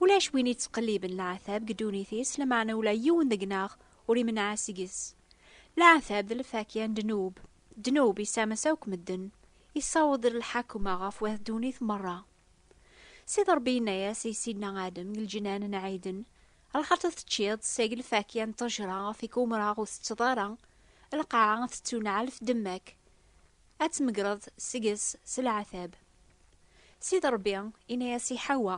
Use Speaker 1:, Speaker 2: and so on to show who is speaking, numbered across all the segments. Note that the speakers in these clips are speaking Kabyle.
Speaker 1: Ulac win yettqelliben leɛtab deg ddunit-is, lameɛna ula yiwen deg-neɣ ur imenneɛ seg-s. Leɛtab d lfakya n ddnub. Ddnub issames akk medden, issaweḍ lḥakma ɣef wat ddunit merra. Sidi Ṛebbi yenna-yas i Sidna Adem deg lǧenan n Ɛiden, Lxerṭ i teččiḍ, seg lfakya n ṭṭejṛa ɣef i k-umreɣ ur tetteḍ ara, lqaɛa tettunɛel tdemma-k, ad tmegreḍ seg-s s leɛtab. Sidi Ṛebbi inna-yas i Ḥawa,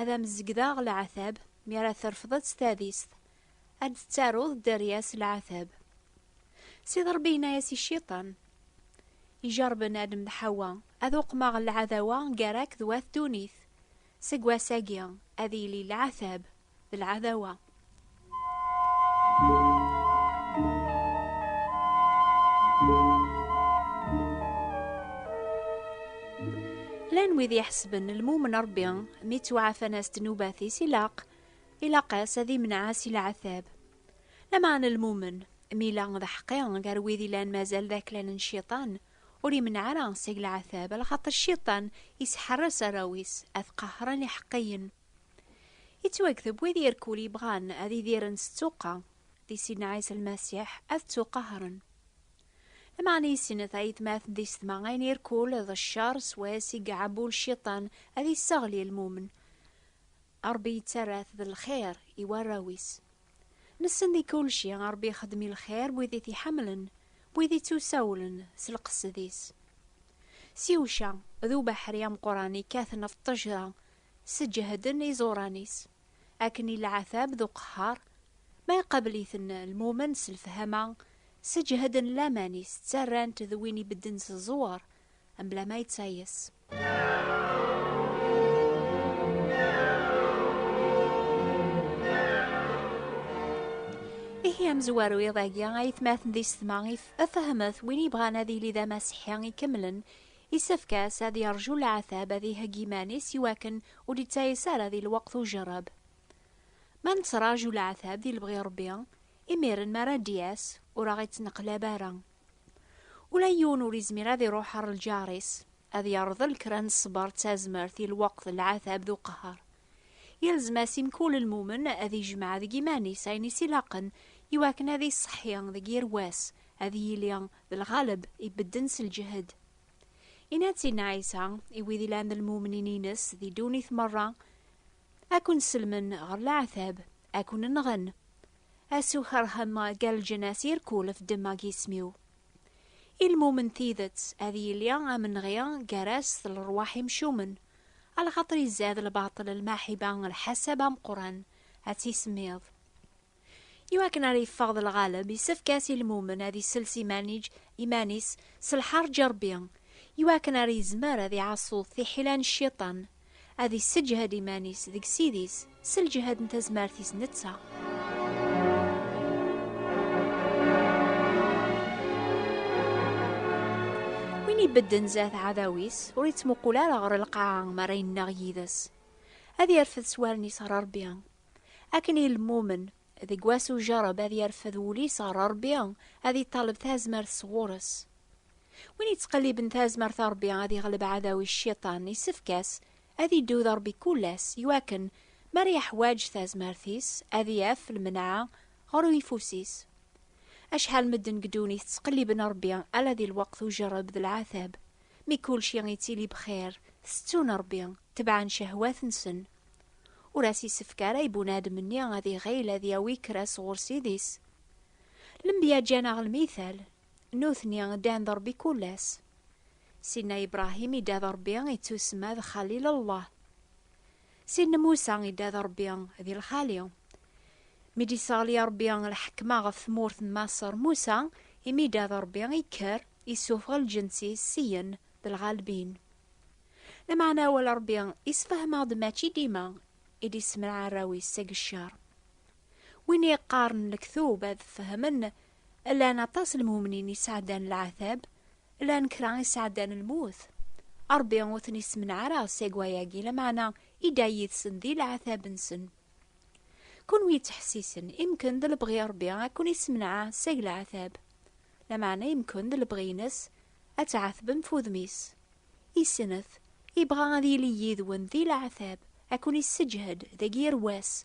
Speaker 1: Ad am-zegdeɣ leɛtab mi ara trefdeḍ tadist, ad d-tettaruḍ dderya s leɛtab. Sidi Ṛebbi inna-yas i Cciṭan, ijerrben Adem d Ḥawa, Ad uqmeɣ lɛadawa gar-ak d wat ddunit, Seg wass-agi ad yili leɛtab d lɛadawa. Llan wid iḥesben lmumen Rebbi mi ttwaɛfan-as ddnubat-is ilaq ilaq-as ad imneɛ si leɛtab. Lameɛna lmumen, mi yella d aḥeqqi gar wid yellan mazal d aklan n Cciṭan, Ur imneɛ ara seg leɛtab, ala xaṭer Cciṭan isḥerres arraw-is ad qehhren iḥeqqiyen. Ittwakteb, wid i rkul yebɣan ad idiren s ttuqqa di Sidna Ɛisa Lmasiḥ, ad ttuqehren. Lameɛna issin tayetmaten tisetma ayen i rkul d ccer s wass i iɛebbu Cciṭan ad isseɣli lmumen, Ṛebbi yettarra-t d lxir i warraw-is. Nessen di kulci Ṛebbi ixeddem i lxir n wid i t-iḥemmlen, n wid ittusawlen s lqesed-is. S yewca, d ubeḥri ameqqran ikkaten ɣef ṭṭejra sseǧehden iẓuran-is, akken i lɛatab d uqehhar, ma iqabel-iten lmumen s lefhama, sseǧehden laman-is ttarran-t d win ibedden s ẓẓwer, mebla ma yettayes. Ihi amezwaru iḍ-agi ayetmaten di setma if fehmet win yebɣan ad yili d amaseḥi ikemlen isefk-as ad yerju leɛtab ad ihegg iman-is i wakken ur d-ittayes ara di lweqt ujerreb. Ma nettraju leɛtab di lebɣi Rebbi, imiren mi ara d-yas ur aɣ-ittneqlab ara. Ula yiwen ur izmir ad iruḥ ar lǧar-is, ad yerḍel kra n ṣṣber d tazmert i lweqt n lɛatab d uqehher. Yelzem-as i mkul lmumen ad ijmeɛ deg iman-is ayen i s-ilaqen i wakken ad iṣeḥḥi deg yir wass, ad yili d lɣaleb ibedden s lǧehd. Inna-d Sidna Ɛisa i wid ilan d lmumnin-ines di ddunit merra, Ad ken-sellmen ɣer lɛatab, ad ken-nɣen. A s ukerhem gar leǧnas i rkulef ddemma g isem-iw. I lmumen tidet, ad yili amenɣi gar-as d lerwaḥ imcumen, a lxaṭer izad lbaṭel lmaḥiba lḥasab ameqqran, a tt-isemmiḍ. I wakken ara yeffeɣ d lɣaleb, isefk-as i lmumen ad isels imanij iman-is s lḥarǧ i Rebbi, i wakken ara yezmer ad iɛaṣṣu tiḥila n cciṭan. Ad isseǧhed iman-is deg Ssid-is s lǧehd n tazmert-is netta. Win ibedden zat ɛadaw-is, ur ittmuqul ara ɣer lqaɛa mi ara yennaɣ yid-s. Ad yerfed s wallen-is ɣer Rebbi. Akken i lmumen, deg wass ujerreb ad yerfed wul-is ɣer Rebbi, ad iṭaleb tazmert sɣur-s. Win yettqelliben tazmert a Rebbi ad yeɣleb aɛdaw-is cciṭan, yessefk-as ad iddu d Rebbi kul ass, iwakken mi ara yeḥwaǧ tazmert-is ad yaf lmenɛa ɣer uyeffus-is. Acḥal n medden deg ddunit ttqelliben Rebbi ala di lweqt ujerreb d lɛatab, mi kulci yettili bxir, tettun Rebbi, tebɛen cehwat-nsen. Ur as-yessefk ara i bunadem-nni ad iɣil ad yawi kra sɣur Ssid-is. Lenbya ǧǧan-aɣ lmithal, Nutni ddan d Ṛebbi kul ass. Sidna Ibrahim idda d Ṛebbi ittusemma d Xalil Llah. Sidna Musa idda d Ṛebbi di lxali. Mi d-isseɣli Ṛebbi lḥekma ɣef tmurt n Maṣer, Musa imi idda d Ṛebbi ikker, issufeɣ lǧens-is syen d lɣalbin. Lameɛna awal Ṛebbi isfehmeɣ-d mačči dima i d-issemraɛ arraw-is seg ccer. Win yeqqaren lektub ad fehmen, llan aṭas n lmumnin yesɛeddan lɛatab, llan kra yesɛeddan lmut. Ṛebbi ur ten-issemneɛ ara seg wayagi, lameɛna idda yid-sen di lɛatab-nsen. Kunwi yettḥessisen, imken d lebɣi Ṛebbi ad ken-issemneɛ seg lɛatab, lameɛna imken d lebɣi-ines ad tɛatbem f udem-is. Isnet, ibɣa ad yili yid-wen di lɛatab, ad ken-isseǧhed deg yir wass,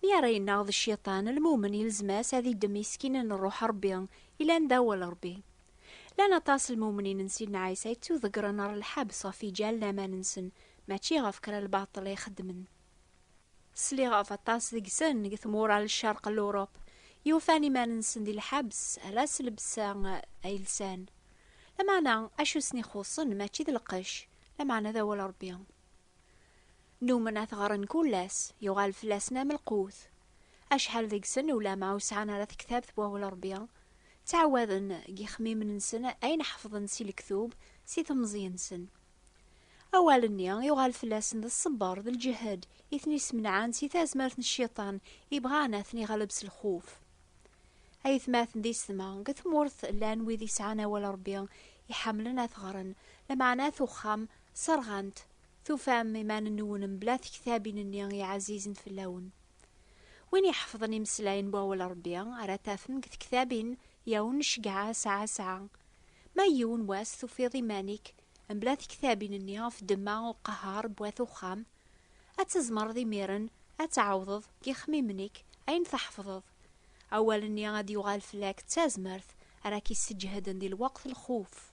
Speaker 2: Mi ara
Speaker 1: yennaɣ d cciṭan, lmumen yelzem-as ad iddem isekinen n Rruḥ Ṛebbi yellan d Awal Ṛebbi. Llan aṭas n lmumnin n Sidna Ɛisa yettuḍeggren ɣer lḥebs ɣef yiǧal n aman-nsen, mačči ɣef kra n lbaṭel ay xeddmen. Sliɣ ɣef aṭas deg-sen deg tmura n ccerq n Luṛup yufan iman-nsen di lḥebs ala s llebsa ay lsan. Lameɛna, acu i sen-ixuṣṣen mačči d lqecc, lameɛna d Awal Ṛebbi. Numen ad t-ɣren kul ass, yuɣal fell-asen am lqut. Acḥal deg-sen ulama ur sɛan ara tektabt n Wawal n Rebbi, ttɛawaden deg yixemmimen-nsen ayen ḥefḍen si lektub, si temẓi-nsen. Awal-nni yuɣal fell-asen d ṣṣebber d lǧehd i ten-ismenɛen si tazmert n cciṭan ibɣan ad ten-iɣleb s lxuf. Ayetmaten d isetma, deg tmurt llan wid isɛan Awal n Rebbi, iḥemmlen ad t-ɣren, lameɛna at uxxam Serɣant, tufam iman-nwen mebla tektabin-nni i ɛazizen fell-awen. Win iḥefḍen imeslayen n wawal n Rebbi, ara tafem deg tektabin, yaw nceggeɛ asɛa asɛa. Ma yiwen wass tufiḍ iman-ik mebla tektabin-nni ɣef ddemma u qehher n wat uxxam, ad tzemreḍ imiren ad tɛawdeḍ deg yixemmimen-ik ayen tḥefḍeḍ. Awal-nni ad d-yuɣal fell-ak d tazmert ara k-isseǧhden di lweqt n lxuf.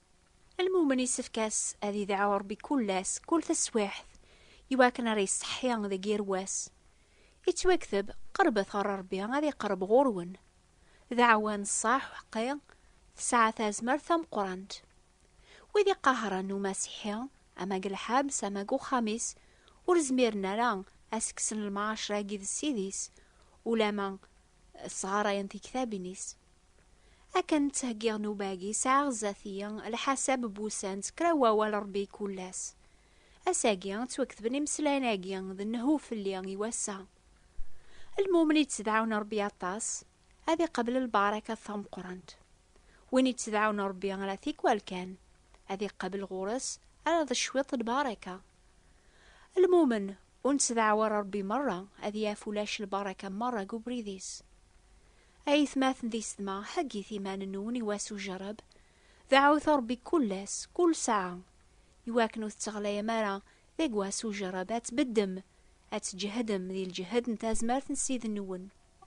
Speaker 1: Lmumen yessefk-as ad idɛu Ṛebbi kul ass, kul taswiɛt, i wakken ara iṣeḥḥi deg yir wass. Ittwakteb, Qeṛbet ɣer Ṛebbi, ad iqeṛṛeb ɣur-wen. Dɛwa n ṣṣeḥ uḥeqqi tesɛa tazmert tameqqṛant. Wid iqehṛen Umasiḥi, ama deg lḥebs ama deg uxxam-is, ur zmiren ara a s-kksen lemɛaceṛ-agi d Ssid-is, ulamma Sɣarayen tiktabin-is. Akken ttheggiɣ nnuba-agi, sɛiɣ zdat-iyi lḥasab n wussan d kra n wawal Rebbi kul ass. Ass-agi, ttwaketben imeslayen-agi d nnehhu fell-i i wass-a. Lmumen i ttdɛun Rebbi aṭas, ad iqabel lbaṛakat tameqqrant. Win i ttdɛun Rebbi ala tikwal kan, ad iqabel ɣur-s ala d cwiṭ n lbaṛaka. Lmumen, ur nettdaɛwar Ṛebbi meṛṛa ad yaf ulac lbaṛaka meṛṛa deg ubrid-is. A aytmaten d isetma, heggit iman-nwen i wass ujerreb, deɛɛut Ṛebbi kull ass, kull ssaɛa, i wakken ur tetteɣlayem ara deg wass ujerreb, ad tbeddem, ad tǧehdem di lǧehd n tazmert n Ssid-nwen.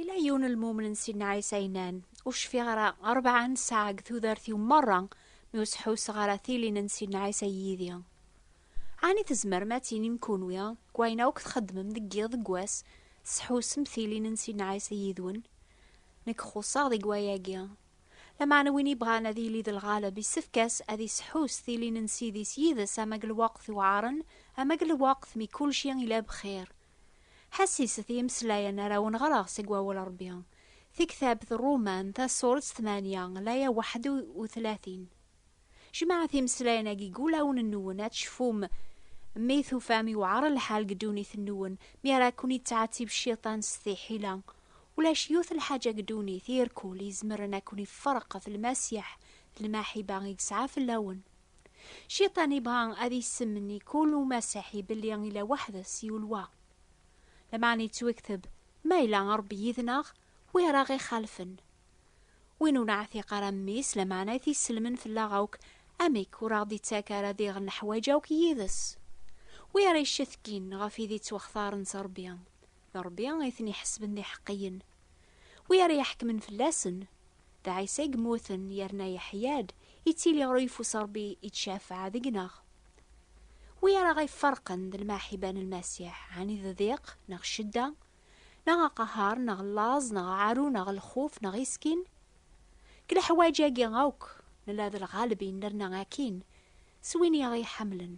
Speaker 1: Ila yiwen lmumen n Sidna Ɛisa yennan, Ur cfiɣ ara rebɛa n ssaɛa deg tudert-iw merra mi ur sḥusseɣ ara tilin n Sidna Ɛisa yid-i. Ɛni tzemrem ad tinim kunwi, deg wayen akk txeddmem deg yiḍ deg wass, tettḥussem tilin n Sidna Ɛisa yid-wen? Nekk xuṣṣeɣ deg wayagi. Lameɛna win yebɣan ad yili d lɣaleb yessefk-as ad yesḥuss tilin n Ssid-is yid-s ama deg lweqt iwɛaren ama deg lweqt mi kulci ila bxir, Ḥassiset i imeslayen ara wen-ɣreɣ seg Wawal n Ṛebbi, Tiktabt Ṛṛuman, tasuṛet tmanya, laya waḥed u tlatin. Jemɛet imeslayen-agi deg wulawen-nwen, ad tecfum mi tufam yewɛer lḥal deg ddunit-nwen, mi ara ken-yettɛettib Cciṭan s tiḥila. Ulac yiwet n lḥaǧa deg ddunit, irkul, izemren ad ken-iferq ɣef Lmasiḥ d lmaḥiba i yesɛa fell-awen. Cciṭan ibɣa ad issemmen i kul umasiḥi belli ila weḥd-s yiwl wa. Lameɛna yettwekteb, Ma ila Ṛebbi yid-neɣ, wi ara ɣ-ixalfen? Win ur neɛtiq ara mmi-s, lameɛna i t-isselmen fell-aɣ akk, amek ur aɣ-d-ittak ara diɣ neḥwaǧ akk yid-s? Wi ara iccetkin ɣef id ittwextaren s Ṛebbi, d Ṛebbi i ten-iḥesben d iḥeqqiyen. Wi ara iḥekmen fell-asen, d Ɛisa i yemmuten yerna yeḥya-d, yettili ɣer uyeffus n Ṛebbi yettcafeɛ deg-neɣ. Wi ara aɣ-iferqen d lmaḥiba n Lmasiḥ, ɛni d ddiq, neɣ ccedda, neɣ aqehheṛ, neɣ llaẓ, neɣ aɛaru, neɣ lxuf, neɣ iskin? Deg leḥwaǧ-agi akk, nella d lɣaleb i nerna akkin s win i aɣ-iḥemmlen.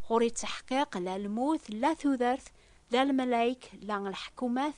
Speaker 1: Ɣur-i ttaḥqiq, la lmut, la tudert, la lmalayek, la lḥekumat,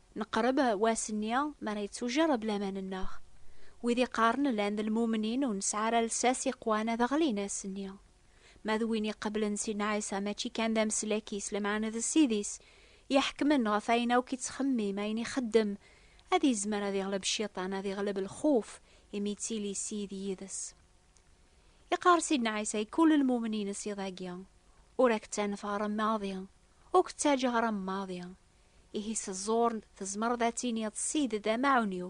Speaker 1: Neqreb wass-nni mi ara yettujerreb laman-nneɣ. Wid iqqaren llan d lmumnin ur nesɛi ara lsas iqwan ad ɣlin ass-nni. Ma d win iqeblen Sidna Ɛisa mačči kan d ameslak-is lameɛna d Ssid-is, iḥekmen ɣef ayen akk ittxemmim, ayen ixeddem, ad yezmer ad iɣleb Cciṭan, ad iɣleb lxuf, imi yettili Ssid yid-s. Iqqar Sidna Ɛisa i kul lmumnin iṣiḍ-agi, Ur ak-ttanefɣreɣ maḍi, ur k-ttaǧǧaɣ ara maḍi, Ihi s ẓẓur tzemreḍ ad tiniḍ ssid-d amaɛun-iw,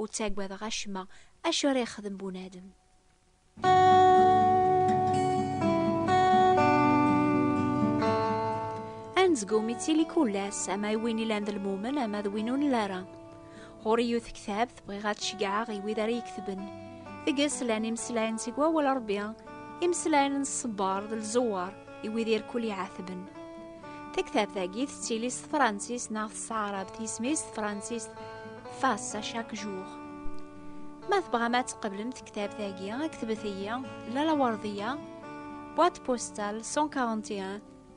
Speaker 1: ur ttagadeɣ acemma, acu ara yexdem bunadem? Anezgum ittili kul ass, ama i win ilan d lmumen ama d win ur nla ara. Ɣur-i yiwet tektabt bɣiɣ ad ceggɛeɣ i wid ara yektben. Deg-s llan imeslayen seg wawal Rebbi, imeslayen n ṣṣebber d lzewwer i wid irkul iɛatben. Taktabt-agi tettili s tefransist neɣ s tɛarabt, yisem-is tefransist Face à chaque jour. Ma tebɣam ad tqeblem tektabt-agi, ktbet-iyi Lalla Werdiya, boîte postale 141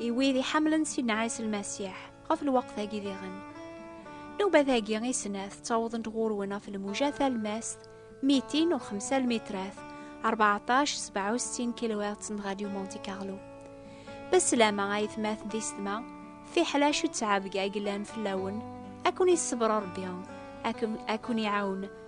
Speaker 1: i wid iḥemmlen Sidna Ɛisa Lmasiḥ ɣef lweqt-agi diɣen. Nubat-agi i snat ttawḍent ɣur-wen ɣef lmuja talmast, mitin u xemsa lmitrat, 1467 kilowert n Radio Monte Carlo. Beslama ay tmat di setma, fiḥel acu ttɛabga i yellan fell-awen, ad ken-yessebr Rebbi, ad ken-iɛawen